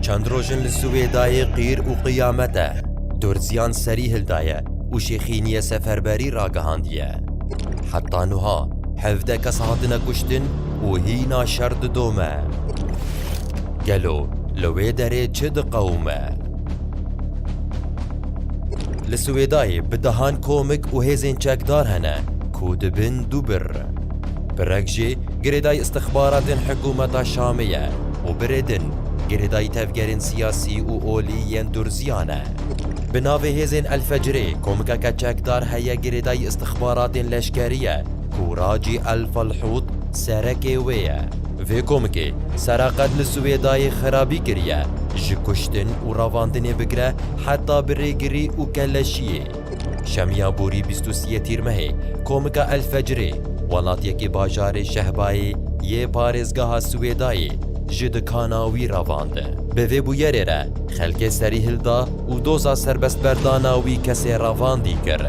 Çend roj in li Siwêdayê qîr û qiyamet e. Durziyan serî hildaye û şêxîniyê seferberî ragihandiye. Heta nuha hevdeh kes hatine kuştin û hîna şer didome. Gelo li wê derê çi diqewime? Li Siwêdayê bi dehan komik û hêzên çekdar hene ku dibin du bir. Pirek jê girêdayî îstixbaratên hikûmeta Şamê ye û birê din girêdayî tevgerên siyasî û olî yên Durziyan e. Bi navê hêzên El-Fecrê komikeke çekdar heye girêdayî îstixbaratên leşkerî ye ku Racî El-Falhût serekê wê ye. Vê komikê sera qet li Siwêdayê xerabî kiriye, ji kuştin û ravandinê bigire heta bi rêgirî û kelleşiyê. Şemiya borî bîst û sê Tîrmehê komika El Fecirê welatiyekî bajarê Şehbayê yê parêzgeha Siwêdayê ji dikana wî ravandin. Bi vê bûyerê re xelkê serî hilda û doza serbestberdana wî kesê ravandî kir.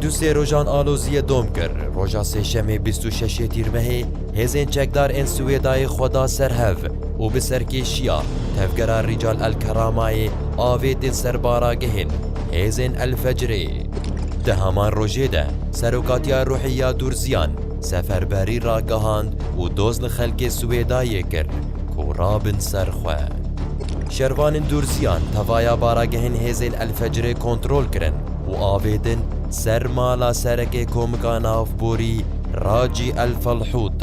Du sê rojan aloziyê dom kir, roja sêşemê bîst û şeş Tîrmehê, Hêzên çekdar ên Swêdayê xwe da ser hev û bi serkêşiya Tevgera Rical El Keramayê avêtin ser baragehên hêzên El Fecrê. Di heman rojê de Serokatiya Ruhiya Durziyan seferberî ragihand û doz li xelkê Swêdayê kir ku rabin ser xwe. Şervanên Durziyan tevaya baragehên hêzên El Fecrê kontrol kirin û avêtin ser mala Serekê Komika Navborî Racî Elfalhût,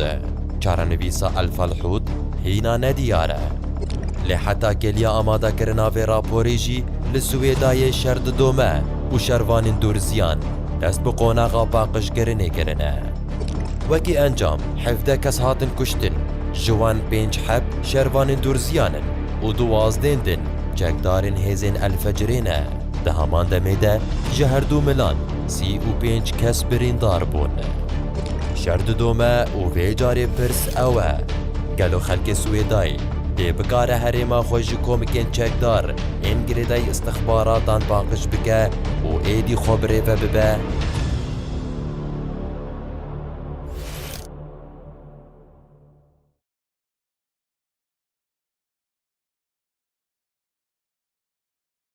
çarenivîsa Elfalhût hîna nediyar e. Lê heta kêliya amadekirina vê raporê jî li Swêdayê şer didome û şervanên Dûrziyan dest bi qonaxa paqijkirinê kirine. Wekî encam hevdeh kes hatin kuştin, ji wan pênc heb şervanên Dûrziyan in û duwazdên din çekdarên hêzên Elfecirê ne. Di heman demê de ji herdu milan sî û pênc kes birîndar bûn. Şer didome û vê carê pirs ew e, gelo xelkê Swêdayê dê bikare herêma xwe ji komikên çekdar ên girêdayî îstixbaratan paqij bike û êdî xwe birêve bibe?